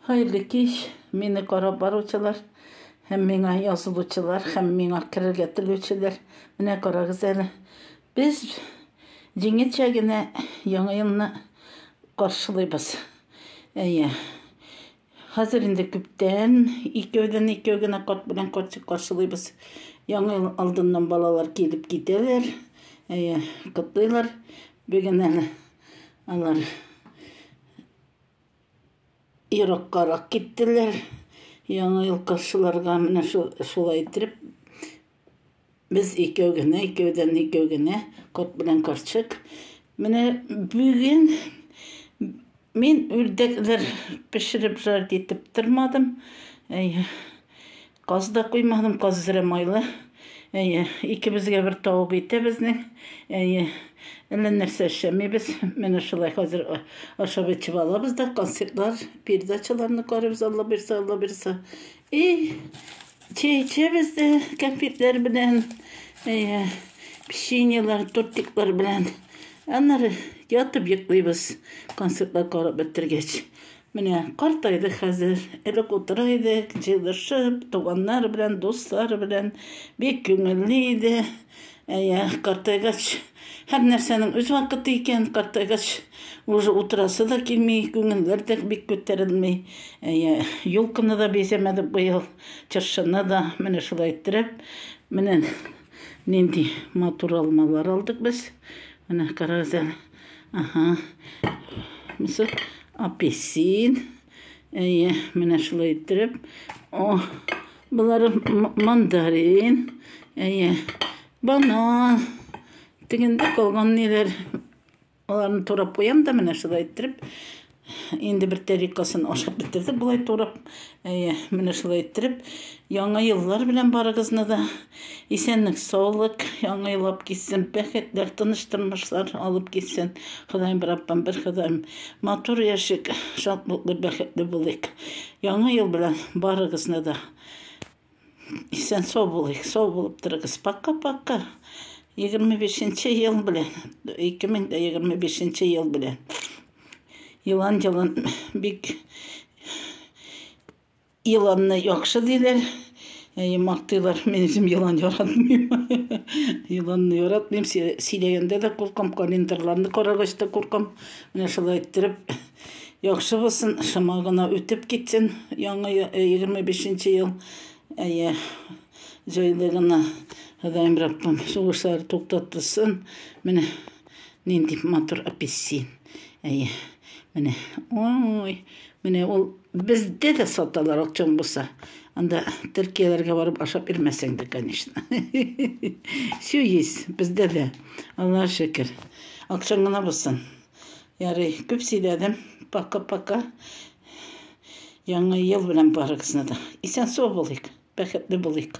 Хәерле кич, мине карап баручылар һәм миңа язылучылар һәм миңа керергә телүчеләр. Менә карагыз әле. Без җиңелчә генә яңа елны каршылыйбыз. Әйе. Хәзер инде күптән икәүдән икәү генә карт белән картик каршылыйбыз. Яңа ел алдыннан балалар килеп китәләр. Әйе, котлыйлар. Бүген әле алар Ераккарак киттеләр. Яңа ел каршыларга менә шулай итеп без икәү генә, икәүдән икәү генә, кот белән карчык. Менә бүген мин үрдәкләр пешереп жарить итеп тормадым. Каз да куймадым, каз зря майлы. Әйе, икебезгә бер тавык ите безнең. Әйе, әллә нәрсә эшләмибез. Менә шулай хәзер ашап эчеп алабыз да, концертлар, передачаларны карыйбыз, Алла бирсә, Алла бирсә. И чәй эчәбез дә кәмпитләр белән, әйе, печеньелар, тортиклар белән. Аннары ятып йоклыйбыз, концертлар карап бетергәч. Менә картайды хәзер. Элек утыра идек, җыелышып, туганнар белән, дуслар белән. Бик күңелле иде. Әйе, картайгач, һәрнәрсәнең үз вакыты икән. Картайгач, уже утырасы да килми, күңелләр дә бик күтәрелми. Әйе, елканы да бизәмәдек быел, чыршыны да. Менә шулай иттереп, менә нинди матур алмалар алдык без. Менә карагыз әле. Аһа. Мисал, апельсин. Әйе, менә шулай иттереп. О, болары мандарин. Әйе, банан. Тегендә калган ниләр. Аларны турап куям да менә шулай иттереп. Инде бер тәрикасын ашап бетердек болай турап. Әйе, менә шулай иттереп, яңа еллар белән барыгызны да. Исәнлек, саулык, яңа ел алып килсен, бәхетләр, тыныч тормышлар алып килсен. Ходаем бер апам, бер Ходаем. Матур яшик, шатлыклы, бәхетле булыйк. Яңа ел белән барыгызны да. Исән сау булыйк, сау булып торыгыз. Пока-пока. 25 ел белән, 2025 ел белән. Елан елан бик еланны яхшы диләр. Әй, мактыйлар, мин үзем елан яратмыйм. Еланны яратмыйм, сөйләгәндә дә куркам, календарьларны карагач та куркам. Менә шулай иттереп Яхшы булсын, шома гына үтеп китсен яңа 25 нче ел. Әйе, җайлы гына Ходаем Раббым сугышлар туктатсын. Менә нинди матур апельсин. Әйе, менә, ой, менә ул бездә дә саталар акчаң булса. Анда Төркияләргә барып ашап ирмәсәң дә, конечно. Все есть, бездә дә. Аллаһ шөкер. Акчаң гына булсын. Ярый, күп сөйләдем. Пока-пока. Яңа ел белән барыгызны да. Исән-сау булыйк, бәхетле булыйк.